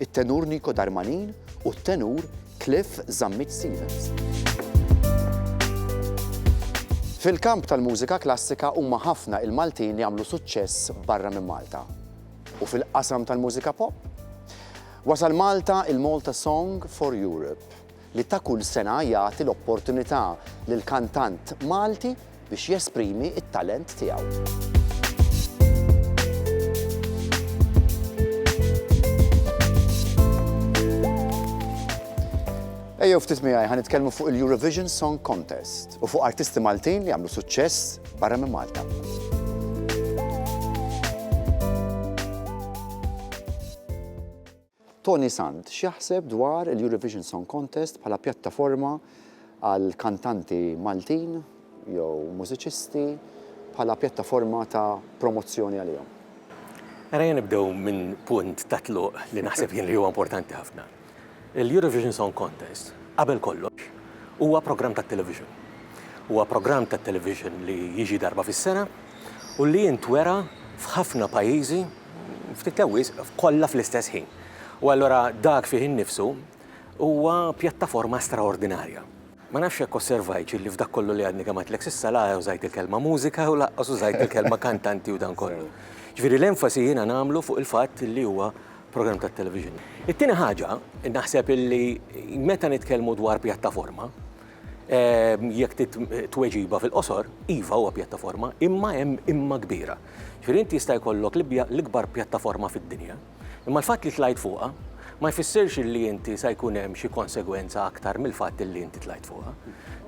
it-tenur Nico Darmanin u t-tenur Cliff Zammit Stevens. Fil-kamp tal-mużika klassika huma ħafna il-Maltin li għamlu suċċess barra minn Malta. U fil-qasam tal-mużika pop? Wasal Malta il-Malta Song for Europe, li ta' kull sena jagħti l-opportunità lil kantant Malti biex jesprimi t-talent tiegħu. Ejjew ftit miegħi ħa nitkellmu fuq il-Eurovision Song Contest u fuq artisti Maltin li għamlu suċċess barra minn Malta. Tony Sant, X'jaħseb dwar il-Eurovision Song Contest bħala pjattaforma għal kantanti Maltin jew mużiċisti bħala pjattaforma ta' promozzjoni għalihom? Mela jien nibdew minn punt ta' tluq li naħseb jien li huwa importanti ħafna. Il-Eurovision Song Contest, qabel kollox, huwa programm tat-television. Huwa programm tat-television li jiġi darba fis-sena u li jintwera f'ħafna pajjiżi, ftit jew wisq, kollha fl-istess ħin. U allura dak fih innifsu huwa pjattaforma straordinarja. Ma nafx jekk osservajtx illi f'dak kollu li għadni kemm għidtlek s'issa la użajt il-kelma mużika u lanqas użajt il-kelma kantanti u dan kollu. Ġifieri l-enfasi jiena nagħmlu fuq il-fatt illi huwa programm tat-television. It-tieni ħaġa, naħseb illi meta nitkellmu dwar pjattaforma, Jekk trid tweġiba fil-qosor, iva huwa pjattaforma, imma hemm imma kbira. Ġifieri inti jista' jkollok l-ikbar pjattaforma fid-dinja, imma l-fatt li tlajt fuqha ma jfissirx li inti sa jkun hemm xi konsegwenza aktar mill-fatt li inti tlajt fuqha.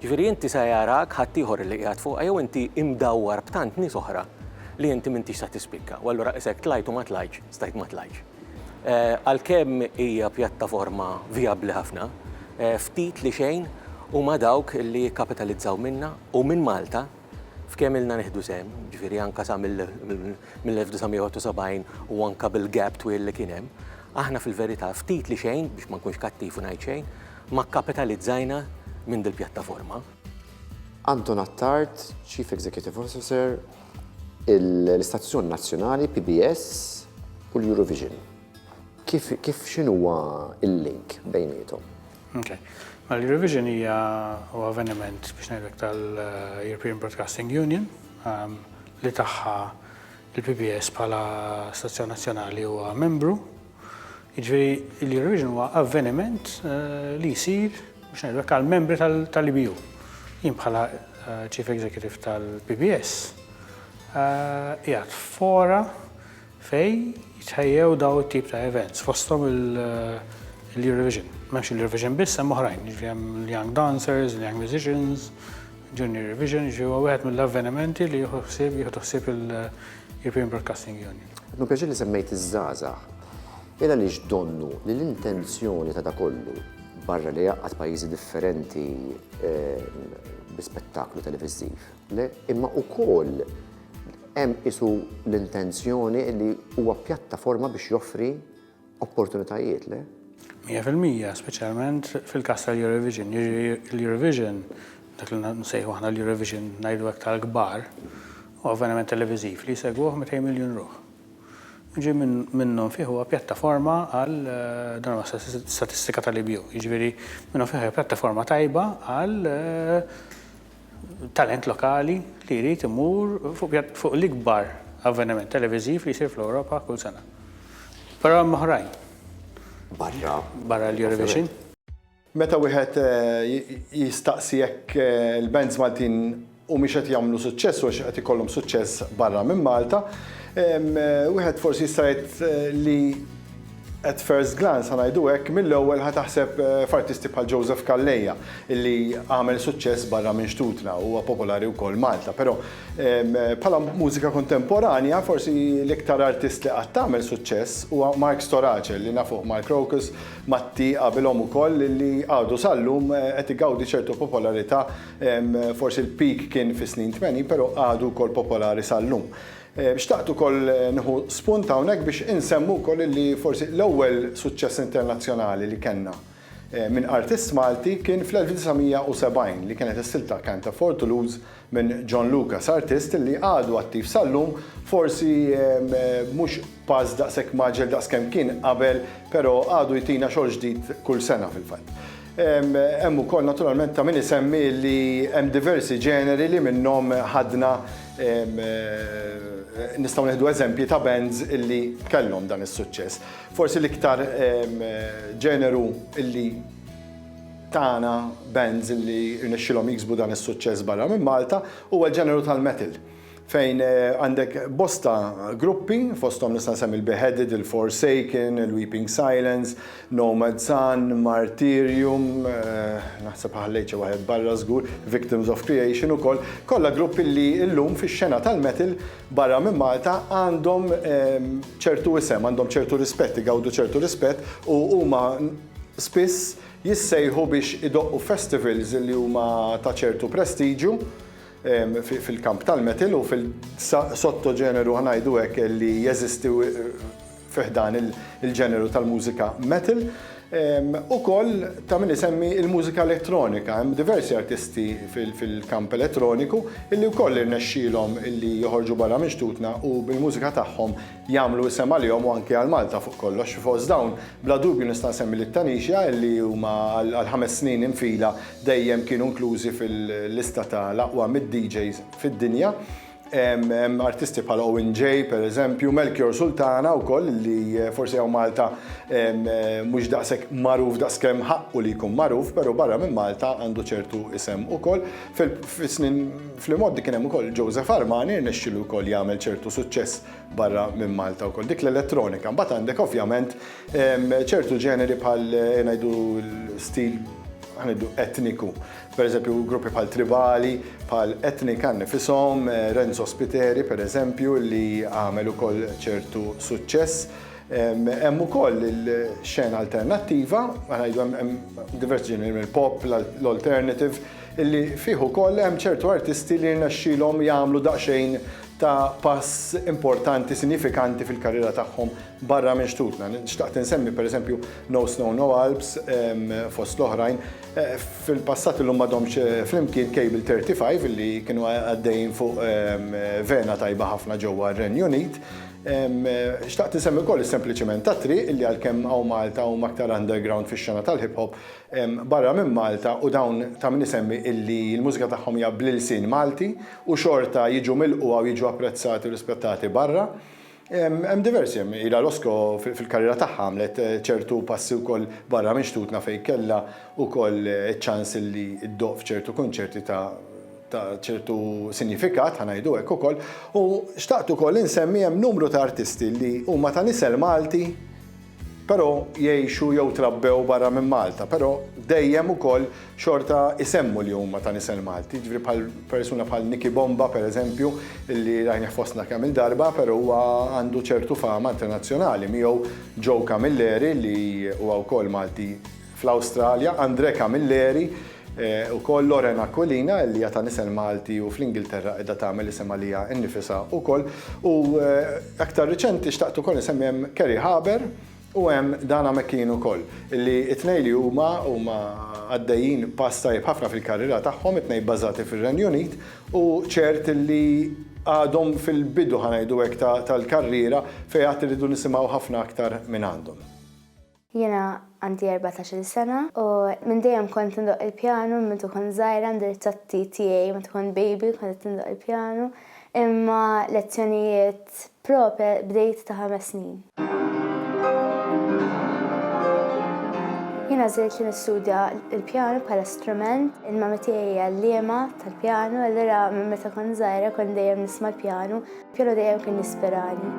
Ġifieri inti sa jarak ħaddieħor li qiegħed fuqha jew inti imdawwar b'tant nies oħra li inti m'intix sa tispikka u allura qisek tlajt u ma tlajtx, stajt ma tlajtx. Għalkemm hija pjattaforma vijabbli ħafna, ftit li xejn huma dawk li jikkapitalizzaw minnha u minn Malta f'kemm ilna nieħdu sehem, jiġifieri anke sa mill-1971 u anke bil-gap twil li kien hemm, aħna fil-verità ftit li xejn, biex ma nkunx kattiv u ngħid xejn, ma kkapitalizzajna minn dil-pjattaforma. Anton Attard, Chief Executive Officer, l-istazzjon nazzjonali PBS u l-Eurovision. Kif kif x'inhuwa l-link bejniethom? Okay. Mela l-Eurovision hija huwa avveniment biex ngħidlek tal-European Broadcasting Union ehm, li tagħha il-PBS bħala stazzjon nazzjonali huwa membru Jiġifieri l-Eurovision huwa avveniment li jsir biex ngħidlek għall-membri tal-EBU. Jien bħala Chief Executive tal-PBS qiegħed fora fej jitħejjew daw it-tip ta' events fosthom l-Eurovision. M'hemmx l-Eurovision biss hemm oħrajn, jiġri hemm l-Young Dancers, l-Young Musicians, Junior Eurovision, jiġri huwa wieħed mill-avvenimenti li jieħu ħsieb jieħu ħsieb il- European Broadcasting Union. Għadnu pjaċir li semmejt iż-żgħażagħ. Illa li x'donnu li l-intenzjoni ta' da kollu barra li jaqqat pajjiżi differenti ehm, bi spettaklu televiżiv, le imma ukoll hemm isu l-intenzjoni li huwa pjattaforma biex joffri Opportunitajiet, le? Mija fil-mija, speċjalment fil-każ tal-Eurovision. L-Eurovision, dak li nsejħu aħna l-Eurovision ngħidu hekk tal-kbar, u avveniment televiżiv li jsegwuh 200 miljun ruħ. Ġi minnhom fih huwa pjattaforma għal eh, dan huwa statistika tal-IBU, jiġifieri minnhom fih hija pjattaforma tajba għal eh, talent lokali li jrid imur fuq l-ikbar avveniment televiżiv li jsir fl-Ewropa kull sena. Però hemm oħrajn. Barra. Barra l-Eurovision. Meta wieħed jistaqsi jekk il-bands Maltin humiex qed jagħmlu suċċess u hux qed ikollhom suċċess barra minn Malta, wieħed forsi jista' jgħid li At first glance, ħa ngħidu hekk, mill-ewwel ħa taħseb f'artisti bħal Joseph Calleja, illi għamel suċċess barra minn xtutna u huwa popolari wkoll Malta. Però bħala mużika kontemporanja, forsi l-iktar artist li qatt għamel suċċess huwa Mark Storace, li nafuh mal-Crocus, Matti qabilhom ukoll, illi għadu sal-lum qed igawdi ċertu popolarità, forsi l-peak kien fis-snin tmenin, però għadu wkoll popolari sal-lum. Xtaqt ukoll nieħu spunt hawnhekk biex insemmu wkoll illi forsi l-ewwel suċċess internazzjonali li kellna minn artist Malti kien fl-1970 li kienet is-silta Canta for Toulouse minn John Lucas, artist li għadu attiv sal-lum, forsi mhux b'pass daqshekk mgħaġġel daqskemm kien qabel, però għadu jtina xogħol ġdid kull sena fil-fatt. Hemm ukoll naturalment ta' min isemmi li hemm diversi ġeneri li minnhom ħadna nistgħu nieħdu eżempji ta' bands li kellhom dan is-suċċess. Forsi l-iktar ġeneru li tana bands li rnexxielhom jiksbu dan is-suċċess barra minn Malta huwa l-ġeneru tal-metal. fejn għandek bosta gruppi, fosthom nista' nsemmi l-Beheaded, il-Forsaken, il-Weeping Silence, Nomad Sun, Martyrium, naħseb ħallejt xi waħed barra żgur, Victims of Creation ukoll, kollha gruppi li llum fix-xena tal-metal barra minn Malta għandhom ċertu isem, għandhom ċertu rispett, igawdu ċertu rispett u huma spiss jissejħu biex idoqqu festivals li huma ta' ċertu prestiġju fil-kamp tal-metal u fil-sottoġeneru ngħidu hekk li jeżisti fi ħdan il-ġeneru tal-mużika metal. Ukoll ta' min isemmi l-mużika elettronika, hemm diversi artisti fil-kamp elettroniku illi wkoll irnexxielhom illi joħorġu barra minn xtutna u bil-mużika tagħhom jagħmlu isem għalihom u anki għal Malta fuq kollox. Fost dawn, bla dubju nista' nsemmi lil Tanixja li huma għal ħames snin in fila dejjem kienu inklużi fil-lista ta' l-aqwa mitt DJs fid-dinja. Hemm artisti bħal Owen Jay, per eżempju, Melchior Sultana wkoll li forsi hawn Malta mhux daqshekk magħruf daqskemm ħaqqu li jkun magħruf, però barra minn Malta għandu ċertu isem ukoll. Fis-snin Fl-imgħoddi kien hemm ukoll Joseph Armani, rnexxielu wkoll jagħmel ċertu suċċess barra minn Malta wkoll. Dik l-elettronika. Mbagħad għandek ovvjament ċertu ġeneri bħal ngħidu stil ħa ngħidu etniku. Pereżempju gruppi bħal Tribali, bħal Etnika nnifishom, Renzo Spiteri pereżempju li għamel ukoll ċertu suċċess. Hemm ukoll il-xena alternattiva, ħa ngħidu hemm diversi ġeneri mill-pop, l-alternative, li fih ukoll hemm ċertu artisti li rnexxielhom jagħmlu daqsxejn ta' pass importanti, sinjifikanti fil-karriera tagħhom barra minn xtutna. Xtaqt insemmi pereżempju No Snow No Alps fost l-oħrajn. Fil-passat illum ma domx flimkien Cable 35 li kienu għaddejjin fuq vena tajba ħafna ġewwa r-Renju Unit. Xtaqt insemmi wkoll is-Sempliċiment tat-Triq li għalkemm hawn Malta huma aktar underground fix-xena tal-hip hop, barra minn Malta u dawn ta' min isemmi illi l-mużika tagħhom hija bl-ilsien Malti u xorta jiġu milqugħa u jiġu apprezzati u rispettati barra. Hemm diversi, hemm ilha Roscoe fil-karriera tagħha għamlet ċertu passi wkoll barra minn xtutna fejn kellha wkoll iċ-ċans illi ddoqq f'ċertu kunċerti ta' ta' ċertu sinjifikat, ħa ngħidu hekk ukoll, u xtaqt ukoll insemmi hemm numru ta' artisti li huma ta' nisel Malti, però jgħixu jew trabbew barra minn Malta, però dejjem ukoll xorta jsemmu li huma ta' nisel Malti, jiġifieri bħal persuna bħal Nicky Bomba pereżempju li rajnih fostna kemm il-darba, però huwa għandu ċertu fama internazzjonali, miegħu Joe Camilleri li huwa wkoll Malti, fl-Awstralja, Andrè Camilleri, ukoll Lauren Aquilina li hija ta' nisel Malti u fl-Ingilterra qiegħda tagħmel isem għaliha nnifisha wkoll, u aktar riċenti xtaqt ukoll insemmi hemm Kerry Haber u hemm Dana McKean ukoll, li t-tnejn li huma huma għaddejjin pass tajjeb ħafna fil-karriera tagħhom, it-tnejn bbażati fir-Renju Unit u ċert li għadhom fil-bidu, ħa ngħidu hekk, tal-karriera fejn għad irridu nisimgħu ħafna aktar mingħandhom. Jiena għandi erbatax-il sena u minn dejjem kont indoqq il-pjanu minn meta kont żgħira għandi ritrati tiegħi meta kont baby kont qed indoqq il-pjanu imma lezzjonijiet proper bdejt ta' ħames snin. Jien għażilt li nistudja l-pjanu bħala strument, il-mami tiegħi hi għalliema tal-pjanu allura minn meta kont żgħira kont dejjem nisma' l-pjanu. Kellu dejjem kien jispirani.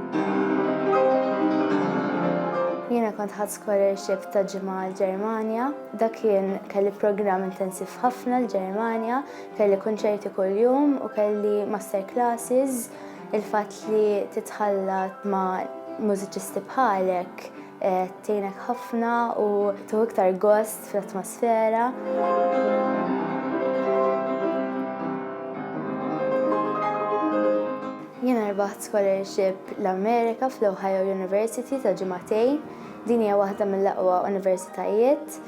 Jiena kont ħadd scholarship ta' ġimgħa l-Ġermanja, dak kien kelli programm intensiv ħafna l-Ġermanja, kelli kunċerti kuljum u kelli master classes, il-fatt li titħallat ma' mużiċisti bħalek eh, tgħinek ħafna u tuħu iktar gost fl-atmosfera. Jiena rbaħt scholarship l-Amerika fl-Ohio University ta' ġimatej. Din hija waħda mill-aqwa universitajiet.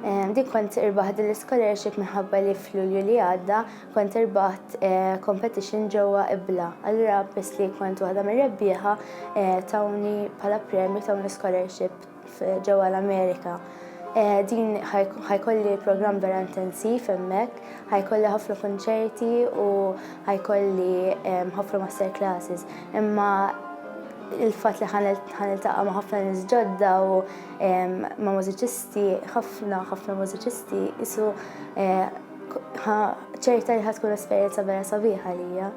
Ehm, din kont irbaħt din l-scholarship minħabba li fl-Lulju li għadda kont irbaħt eh, competition ġewwa ibla. Allura biss li kont waħda mir-rebbieħa eh, tawni bħala premju tawni scholarship ġewwa l-Amerika. Din ħajkolli programm vera intensiv hemmhekk, ħajkolli ħafna kunċerti u ħajkolli ħafna master classes. Imma il-fatt li ħaniltaqa' ma' ħafna nies ġodda u ma' mużiċisti, ħafna ħafna mużiċisti isu ċerta li ħad tkun esperjenza vera sabiħa lija.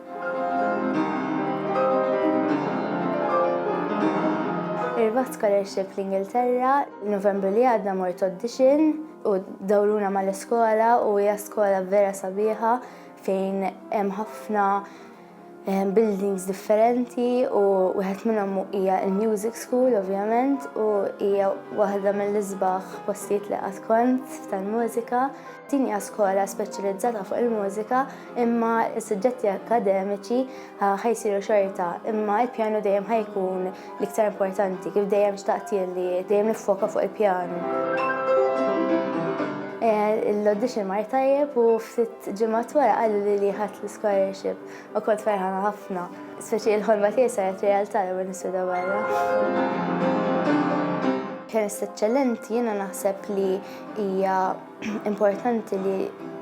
Irbaħt scholarship l-Ingilterra, Novembru li għadna mort audition u dawruna mal-iskola u hija skola vera sabiħa fejn hemm ħafna eh, buildings differenti u wieħed minnhom hija il-Music School ovvjament u hija waħda mill-isbaħ postijiet li qatt kont tal-mużika. Din hija skola speċjalizzata fuq il-mużika imma s-suġġetti akademiċi ħajsiru xorta imma l-pjanu dejjem ħajkun L-iktar importanti, kif dejjem xtaqt jien li dejjem nifoka fuq il-pjanu. Eh, l-audition mar tajjeb u ftit ġimgħat wara qalu li li ħadd l-scholarship u kont ferħana ħafna. Speċi il-ħolma tiegħi saret realtà li minn niswida barra. Kemm eċċellenti jiena naħseb li hija importanti li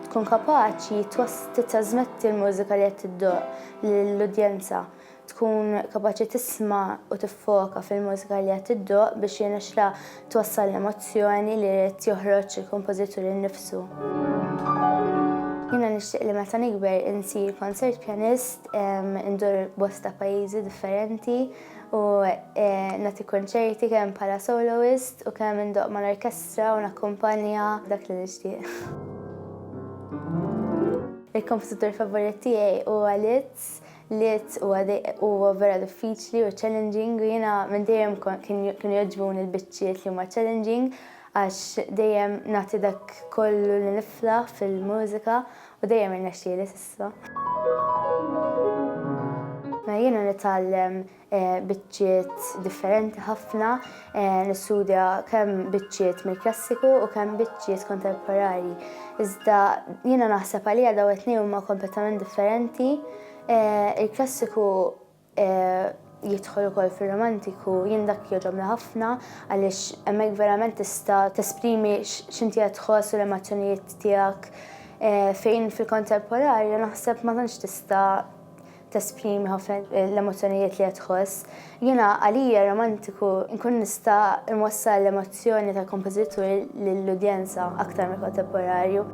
tkun kapaċi titrasmetti l-mużika li qed tiddoq lill-udjenza. tkun kapaċi tisma' u tiffoka fil-mużika li qed tiddoqq biex jirnexxilha twassal l-emozzjoni li ried joħroġ il-kompożitur innifsu. Jiena nixtieq li meta nikber insir concert pianist, indur bosta pajjiżi differenti u nagħti kunċerti kemm bħala soloist u kemm indoqq mal-orkestra u nakkumpanja, dak li nixtieq. Il-kompożitur favorit tiegħi huwa Liszt. Liet huwa vera diffiċli u challenging u jiena minn dejjem kienu jogħġbuni l-biċċiet li huma challenging għax dejjem nagħti dak kollu li niflaħ fil-mużika u dejjem irnexxieli s'issa. Mela jiena nitgħallem biċċiet differenti ħafna, nistudja kemm biċċiet mill-klassiku u kemm biċċiet kontemporani. Iżda jiena naħseb għalija daw it-tnejn huma kompletament differenti. Il-klassiku jidħol ukoll fir-romantiku, jien dak jogħġobni ħafna għaliex hemmhekk verament tista' tesprimi x'inti qed tħoss u l-emozzjonijiet tiegħek fejn fil-kontemporanju naħseb ma tantx tista' Tesprimi ħafna l-emozzjonijiet li qed tħoss. Jiena għalija romantiku nkun nista' nwassal l-emozzjoni tal-kompożitur lill-udjenza aktar mill-kontemporanju.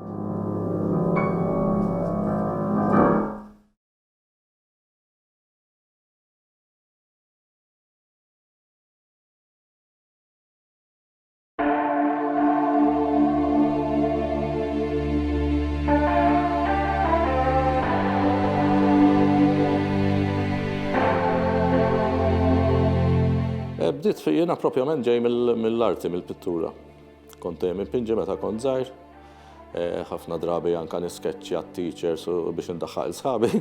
Eh, bdiet fi jiena propjament ġej mill-arti, mill-pittura. Kont dejjem impinġi meta kont żgħir, Ħafna drabi anke niskeċċja t-teachers biex indaħħaq il sħabi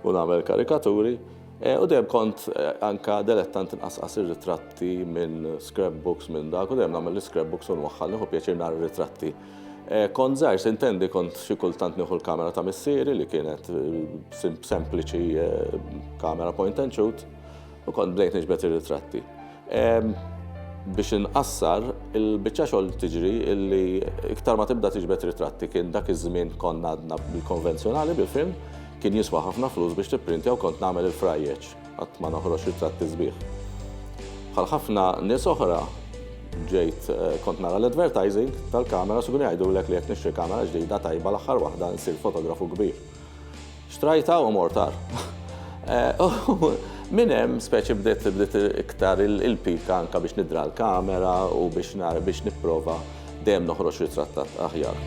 u nagħmel karikaturi. U dejjem kont anke delettant inqasqas ir-ritratti minn scrapbooks minn dak u dejjem nagħmel l-scrapbooks u nwaħħal nieħu pjaċir nara r-ritratti. Kont żgħir sintendi kont xi kultant nieħu l-kamera ta' missieri li kienet sempliċi kamera point and shoot U kont bdejt niġbed ir-ritratti. Biex inqassar, il-biċċa xogħol tiġri illi iktar ma tibda tiġbed ritratti kien dak iż-żmien konna għadna bil-konvenzjonali bil-film, kien jiswa ħafna flus biex tipprintja u kont nagħmel il-frajjeġ, qatt ma noħroġ ritratti sbieħ. Bħal ħafna nies oħra, ġejt eh, kont nara l-advertising tal-kamera su jgħidulek li jekk nixtri kamera ġdida tajba l-aħħar waħda nsir fotografu kbir. Xtrajtha u mort għar. Minn hemm speċi bdiet bdiet iktar il-pika anke biex nidra l-kamera u biex biex nipprova dejjem noħroġ ritratt aħjar.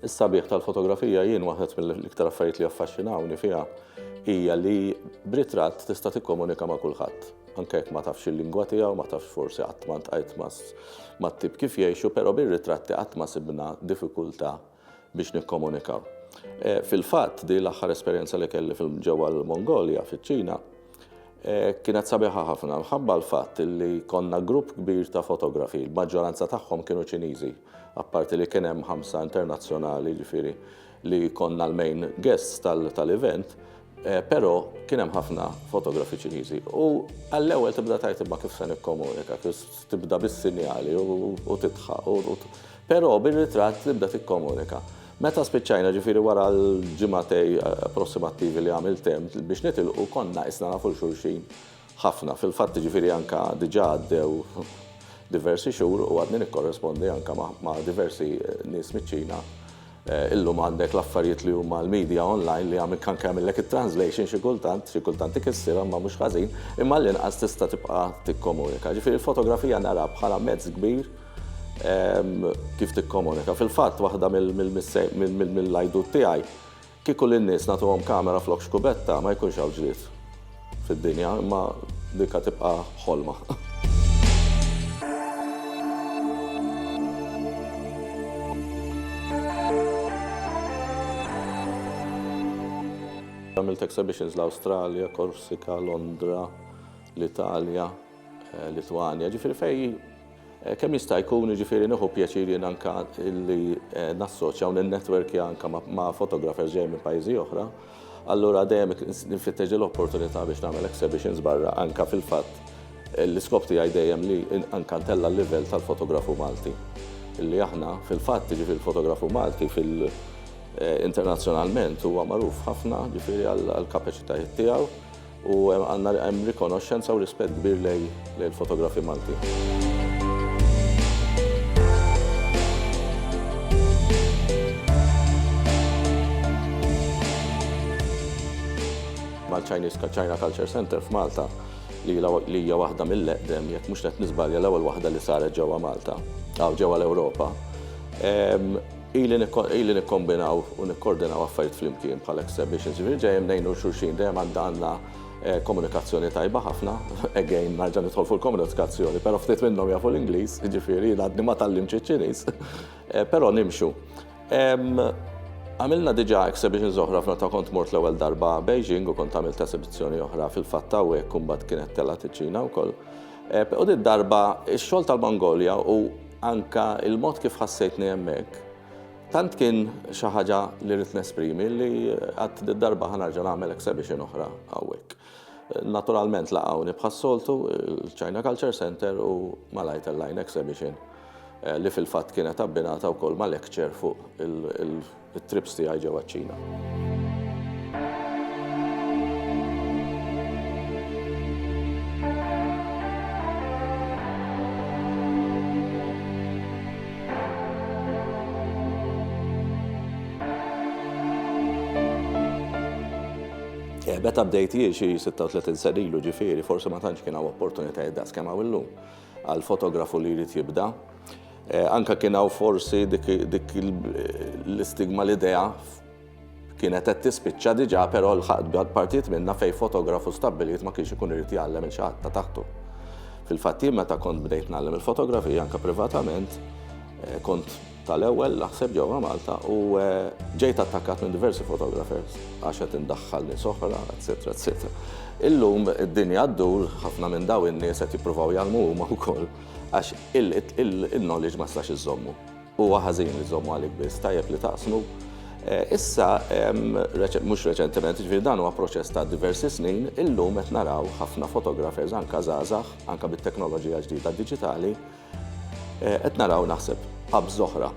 Is-sabiħ tal-fotografija jien waħed mill-iktar affarijiet li jaffaxxinawni fiha hija li b'ritratt tista' tikkomunika ma' kulħadd. Anke jekk ma tafx il-lingwa tiegħu, ma tafx forsi qatt ma ntqajt mat-tip kif jgħixu, però bir-ritratti qatt ma sibna diffikultà biex nikkomunikaw. Eh, fil-fatt, di l-aħħar esperjenza li kelli ġewwa l-Mongolja, fiċ-Ċina, Kienet sabiħa ħafna minħabba l-fatt li konna grupp kbir ta' fotografi, l-maġġoranza tagħhom kienu Ċiniżi, apparti li kien hemm ħamsa internazzjonali ġifieri li konna l-main guests tal-event, però kien hemm ħafna fotografi Ċiniżi. U għall-ewwel tibda tgħid imma kif se nikkomunika, Tibda bis-sinjali u tidħaq u però bir-ritratt tibda tikkomunika. Meta spiċċajna ġifieri wara l-ġimgħatej approssimattivi li għamilt hemm biex nitilqu konna qisna nafu l xulxin ħafna. Fil-fatt ġifieri anke diġà għaddew diversi xhur u għadni nikkorrespondi anke ma' diversi nies miċ-Ċina Illum għandek l-affarijiet li huma l-media online li għamil anke jagħmillek it-translation xi kultant, xi kultant ikissirha imma mhux ħażin, imma għall-inqas tista' tibqa' tikkomunika. Ġifieri l-fotografija naraha bħala mezz kbir kif tikkomunika. Fil-fatt waħda mill-għajdut tiegħi, kieku lin-nies nagħtuhom kamera flok xkubetta ma jkunx hawn ġlied. fid-dinja imma dika tibqa' ħolma. Għamilt exhibitions l-Awstralja, Korsika, Londra, l-Italja, eh, Litwanja, ġifiri fej Kemm jista' jkun, jiġifieri nieħu pjaċir jien anke li nassoċja u ninnetwerkja anke ma' photographers ġejjin minn pajjiżi oħra, allura dejjem nfittex din l-opportunità biex nagħmel exhibitions barra anke fil-fatt l-iskop tiegħi dejjem li anke ntella' l-livell tal-fotografu Malti. Li aħna fil-fatt, jiġifieri l-fotografu Malti fil internazzjonalment huwa magħruf ħafna jiġifieri għall-kapaċitajiet tiegħu, U għandna hemm rikonoxxenza u rispett kbir lejn il-fotografi Maltin. mal-Chinese China Culture Center f'Malta li hija waħda mill-eqdem, jekk mhux qed niżbalja l-ewwel waħda li saret ġewwa Malta, aw ġewwa l-Ewropa. Ili nikkombinaw u nikkordinaw affarijiet flimkien bħala exhibitions, jiġifieri dejjem ngħinu xulxin, dejjem għandna komunikazzjoni tajba ħafna, again nerġa' nidħol fuq il-komunikazzjoni, però ftit minnhom jafu l-Ingliż, jiġifieri jien għadni ma tgħallimtx iċ-Ċiniż, però nimxu. Għamilna diġà exhibitions oħra f'meta kont mort l-ewwel darba Beijing u kont għamilt esibizzjoni oħra fil-fatt hawnhekk u mbagħad kienet telgħet iċ-Ċina wkoll. U din darba x-xogħol tal-Mongolja u anka il-mod kif ħassejtni hemmhekk tant kien xi ħaġa li rrid nesprimi li għad din darba ħanarġa nagħmel exhibition oħra hawnhekk. Naturalment laqgħuni bħas-soltu l-China Culture Center u malaj tellajna exhibition eh, li fil-fatt kienet abbinata wkoll ma' lecture fuq il- It-trips tiegħi ġewwa ċ-Ċina. Beta bdejt jie xi 36 sen ilu ġifieri, forsi ma tantx kien hawn opportunitajiet daqs kemm hawn illum għal fotografu li jrid jibda. Eh, anka kien hawn forsi dik l-istigma l-idea kienet qed tispiċċa diġà però l-ħadd partijiet minna fejn fotografu stabbilit ma kienx ikun irid jgħallem il xaħat ta' taħtu. Fil-fatt jien meta kont bdejt nagħllem il-fotografija anka privatament eh, kont tal-ewwel naħseb ġewwa Malta u eh, ġejt attakkat minn diversi fotografers għax qed indaħħal nies oħra, eċetera, eċetera. Illum id-dinja ddur ħafna minn daw in-nies qed jippruvaw jgħallmu huma wkoll. Għax il-knowledge ma tistax iżżommu. Huwa ħażin li żżommu għalik biss, tajjeb li taqsmu. Eh, issa, mhux reċentement, ġifieri dan huwa proċess ta' diversi snin, illum qed naraw ħafna fotografers anka żgħażagħ, anka bit-teknoloġija ġdida diġitali, eh, qed naraw naħseb qabż oħra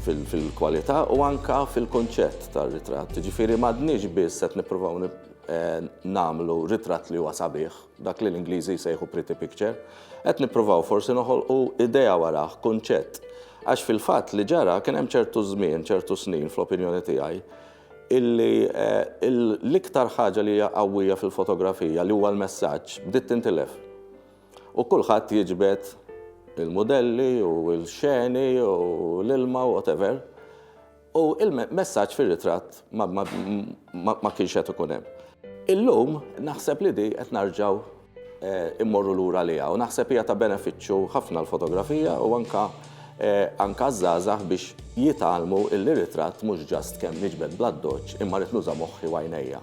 fil-kwalità u anka fil-konċett tar-ritratt. Ġifieri m'għadniex biss qed nippruvaw eh, nagħmlu ritratt li huwa sabiħ, dak li l-Ingliżi jsejħu pretty picture, qed nippruvaw forsi noħolqu idea warah, kunċett. Għax fil-fatt li ġara kien hemm ċertu żmien, ċertu snin fl-opinjoni tiegħi, illi eh, l-iktar ħaġa li hija qawwija fil-fotografija li huwa l-messaġġ bdiet tintilef. U kulħadd jiġbed il-modelli u l-xeni u l-ilma u whatever. U l-messaġġ fir-ritratt ma kienx qed ikun hemm. Illum naħseb li di qed narġgħu immorru lura għaliha u naħseb hija ta' benefiċċju ħafna l-fotografija u anka għaż-żgħażagħ biex jitgħallmu illi ritratt mhux ġast kemm niġbed bl-addoċċ imma rrid nuża' moħħi u għajnejja.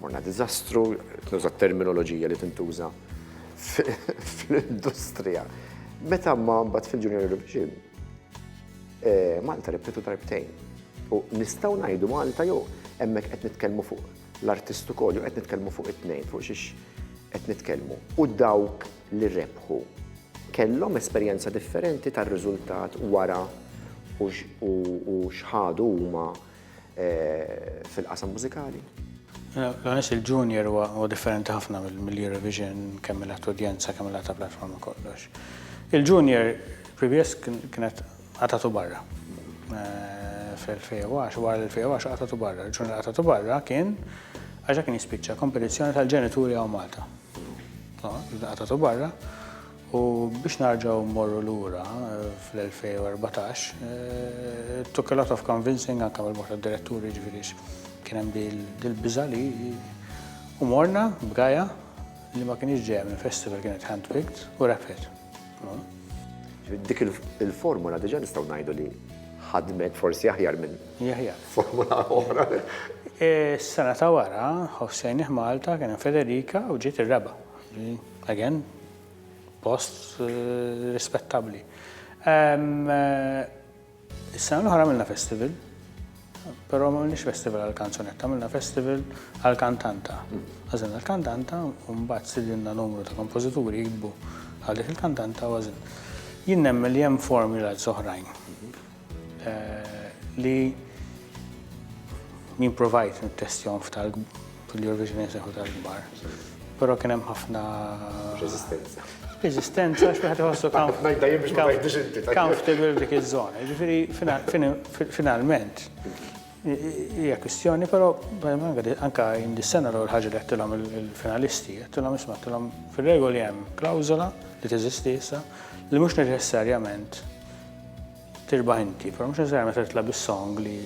Morna diżastru, qed nuża t-terminoloġija li tintuża fl-industrija. Meta ma mbagħad fil-Junior Eurovision, eh, Malta rebħitu darbtejn. U nistgħu ngħidu Malta jew hemmhekk qed nitkellmu fuq l-artistu kollu qed nitkellmu fuq it-tnejn, fuq xiex qed nitkellmu. U dawk li rebħu kellhom esperjenza differenti tar-riżultat wara u xħadu huma fil-qasam mużikali. L-għanis il-junior huwa differenti ħafna mill-Eurovision, kemm mill udjenza kemm mill-għata platforma kollox. Il-junior previous kienet għatatu barra. Eh, Fil-2010, wara l-2010 għatatu barra. Il-junior għatatu barra kien għaxa kien jispiċċa kompetizzjoni tal-ġenituri għaw Malta. Għatatu barra. U biex narġaw morru lura fl-2014, it took a lot of convincing anka mill-bord tad-diretturi ġifieri kien hemm dil-biża' li u morna b'gaja li ma kienx ġejja minn festival kienet handpicked u rebħet. Dik il-formula diġà nistgħu ngħidu li ħadmet forsi aħjar minn formula oħra. Is-sena ta' wara, ħossejnih Malta kien hemm Federica u ġiet ir-raba'. Again, post rispettabbli. Is-sena l-oħra għamilna festival, però ma għamilniex festival għal-kanzunetta, għamilna festival għal-kantanta. Għazin għal-kantanta, un bat sidinna numru ta' kompozituri jikbu għalik il-kantanta għazin. Jien nemmen li hemm formula oħrajn. Li jien provajt nittestjahom f'tal fil-Eurovision jseħħu tal-kbar. Però kien hemm ħafna Resistenza. Resistenza għax wieħed iħossu comfortable f'dik iż-żona. Ġifieri finalment hija kwistjoni, però anke jien dis-sena l-ewwel ħaġa li għedtilhom il-finalisti, għedtilhom isma' għedtilhom fir-regoli hemm klawżola li teżisti issa li mhux neċessarjament Tirbaħ inti, però mhux neċessarjament se titla' bis-song li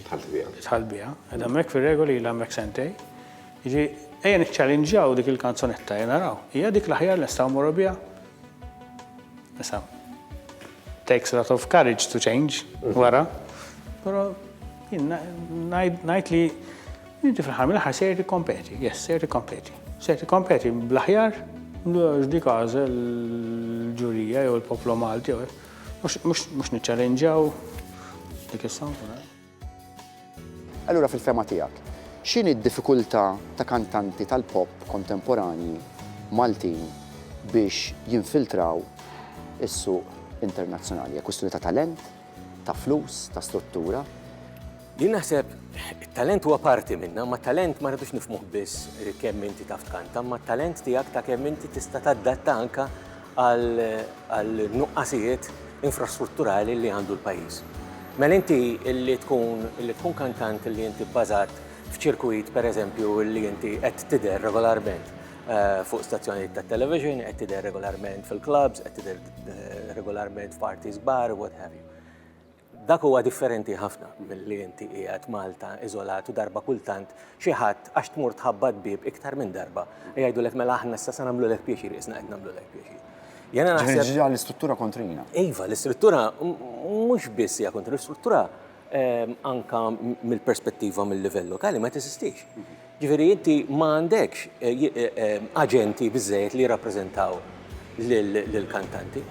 Tħalt biha. tħall biha. Ed hemmhekk fir-regoli ilha hemmhekk sentej. Jiġi, ejja niċċalinġjaw dik il-kanzunetta, ejja naraw. Hija dik l-aħjar li nistgħu mmorru biha? Issa, takes a lot of courage to change wara, però jien ngħid li Inti fl-aħħar mill-aħħar sejjer tikkompeti, yes, sejjer tikkompeti. Sejjer tikkompeti bl-aħjar. Għax dik għażel il-ġurija jew il-poplu Malti, mhux niċċalenġaw dik is-song. Allura fil-fehma tiegħek, x'inhi d-diffikultà ta' kantanti tal-pop kontemporanji Maltin biex jinfiltraw is-suq internazzjonali? Hija kwistjoni ta' talent? ta' flus, ta' struttura. Jien naħseb it-talent huwa parti minnha, imma t-talent ma rridux nifhmuh biss kemm inti taf tkanta, imma t-talent tiegħek ta' kemm inti tista' tadatta anke għal nuqqasijiet infrastrutturali li għandu l-pajjiż. Mela inti li tkun li tkun kantant li inti bbażat f'ċirkwit pereżempju li inti qed tidher regolarment fuq stazzjonijiet tat-television, qed tidher regolarment fil-klabbs, qed tidher regolarment f'parti żbar, what have you. Dak huwa differenti ħafna milli inti qiegħed Malta iżolat u darba kultant xi ħadd għax tmur tħabbat bib iktar minn darba jgħidulek mela aħna issa se nagħmlulek pjaċir isna qed nagħmlulek pjaċir. Jena naħseb. l-istruttura kontrina. Iva, l-istruttura mhux biss hija kontrina, l-istruttura ehm, anka mill-perspettiva mill-livell lokali ma tesistix. Jiġifieri inti ma għandekx aġenti biżżejjed li jirrappreżentaw lill-kantanti.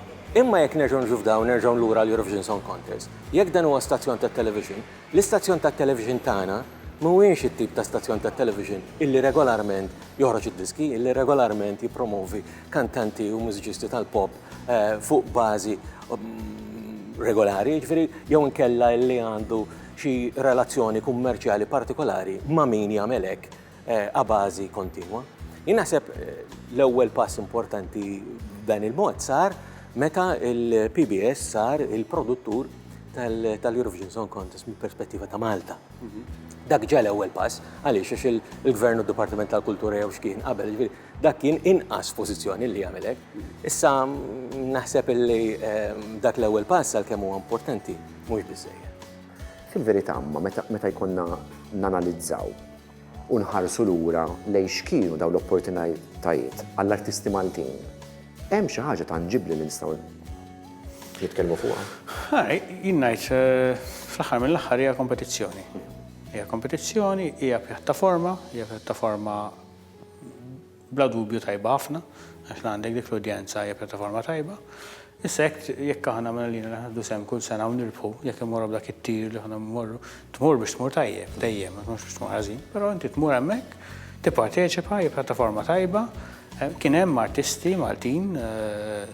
Imma jekk nerġgħu niġu f'dawn, nerġgħu lura għall-Eurovision Song Contest, jekk dan huwa stazzjon tat-television, l-istazzjon tat-television tagħna mhuwiex it-tip ta' stazzjon tat-television illi regolarment joħroġ id-diski, illi regolarment jippromovi kantanti u mużiċisti tal-pop fuq bażi regolari, ġifieri jew inkella li għandu xi relazzjoni kummerċjali partikolari ma' min jagħmel hekk a bażi kontinwa. Jien naħseb l-ewwel pass importanti b'dan il-mod sar meta il-PBS sar il-produttur tal-Eurovision Song Contest mill-perspettiva ta' Malta. Dak ġa l-ewwel pass, għaliex għax il-Gvern u d-Dipartiment tal-Kultura jew x'kien qabel, ġifieri Dak kien inqas pożizzjoni li jagħmel hekk. Issa naħseb illi dak l-ewwel pass għalkemm huwa importanti mhux biżżejjed. Fil-verità imma meta jkollna nanalizzaw u nħarsu lura lejn x'kienu dawn l-opportunitajiet għall-artisti Maltin, hemm xi ħaġa tanġibbli li nistgħu nitkellmu fuqha? Jien ngħid fl-aħħar mill-aħħar hija kompetizzjoni. Hija kompetizzjoni, hija pjattaforma, hija pjattaforma Bla dubju tajba ħafna, għax la għandek dik l-udjenza hija pjattaforma tajba. Issa jekk jekk aħna mela lina li ħadu sem kull sena u nirbħu, jekk immorru b'dak it-tir li aħna mmorru, tmur biex tmur tajjeb dejjem, ma tmurx biex tmur ħażin, però inti tmur hemmhekk, tipparteċipa, hija pjattaforma tajba, kien hemm artisti Maltin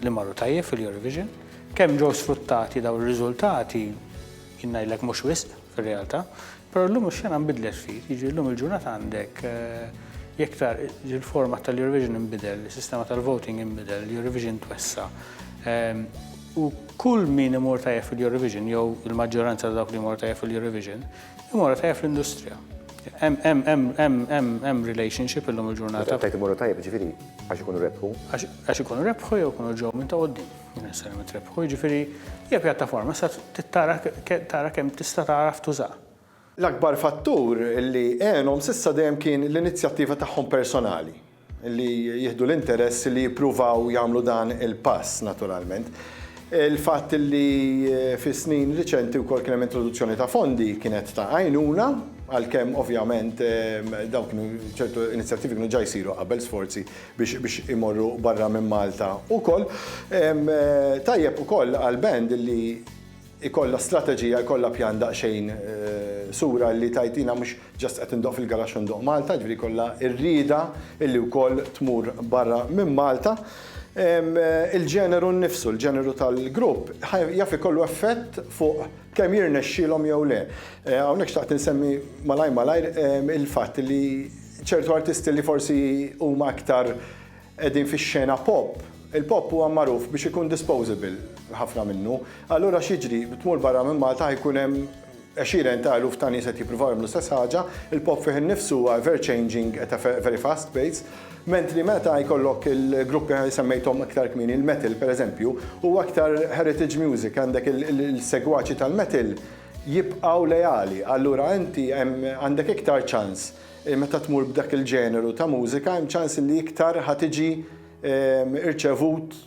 li marru tajjeb fil-Eurovision, kemm ġew sfruttati dawn ir-riżultati jien ngħidlek mhux wisq. fir-realtà, però llum ix-xena nbidlet ftit, jiġifieri llum il-ġurnata għandek iktar il-format tal-Eurovision inbidel, is-sistema tal-voting inbidel, l-Eurovision twessa. Ehm, u kull min imur tajjeb fil-Eurovision, jew il-maġġoranza ta' dawk li imur tajjeb fil-Eurovision, imur tajjeb fl-industrija. Hemm relationship illum il-ġurnata. Tajt imur tajjeb ġifieri għax ikunu rebħu. Għax ikunu rebħu jew ikunu ġew minn ta' qoddim. Jinnessari ma trebħu, jiġifieri hija pjattaforma sa tittara tara kemm tista' tagħraf tuża. L-akbar fattur li għenhom s'issa dejjem kien l-inizjattiva tagħhom personali, li jieħdu l-interess li jippruvaw jagħmlu dan il-pass naturalment. Il-fatt li fis-snin riċenti wkoll kien hemm introduzzjoni ta' fondi kienet ta' għajnuna, għalkemm ovvjament dawn kienu ċertu inizjattivi kienu ġa jsiru qabel sforzi biex imorru barra minn Malta ukoll. Tajjeb ukoll għal band illi jkollha strateġija, jkollha pjan daqsxejn sura illi tgħid jiena mhux just qed indoqq fil-garaxx u ndoqq Malta, jiġifieri jkollha r-rieda illi wkoll tmur barra minn Malta. Il-ġeneru nnifsu, il-ġeneru tal-grupp jaf ikollu effett fuq kemm jirnexxielhom jew le. Hawnhekk xtaqt insemmi malajr malajr il-fatt illi, ċertu artisti li forsi huma aktar qegħdin fix-xena pop, il-pop huwa magħruf biex ikun disposable, ħafna minnu. Allura x'jiġri, tmur barra minn Malta ħa jkun hemm għexieren ta' eluf ta' nies qed jippruvaw jagħmlu l-istess ħaġa, il-pop fih innifsu huwa ever changing at a very fast pace, mentri meta jkollok il-gruppi li semmejthom aktar kmieni, il-metal pereżempju, huwa aktar heritage music, għandek il-segwaċi tal-metal, jibqgħu leali. Allura inti hemm għandek iktar ċans meta tmur b'dak il-ġeneru ta' mużika hemm ċans li iktar ħa tiġi rċevut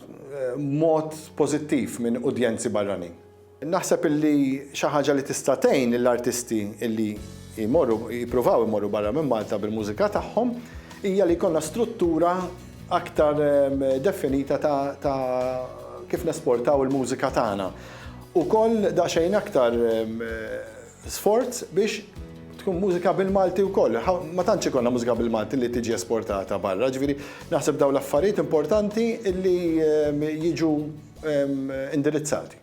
b'mod pożittiv minn udjenzi barranin. Naħseb illi xi ħaġa li tista' tgħin lill-artisti illi jmorru jippruvaw imorru barra minn Malta bil-mużika tagħhom hija li jkollna struttura aktar definita ta' kif nesportaw il-mużika tagħna. Ukoll daqsxejn aktar sforz biex tkun mużika bil-Malti wkoll. Ma tantx ikollna mużika bil-Malti li tiġi esportata barra, ġifieri naħseb dawn l-affarijiet importanti li jiġu indirizzati.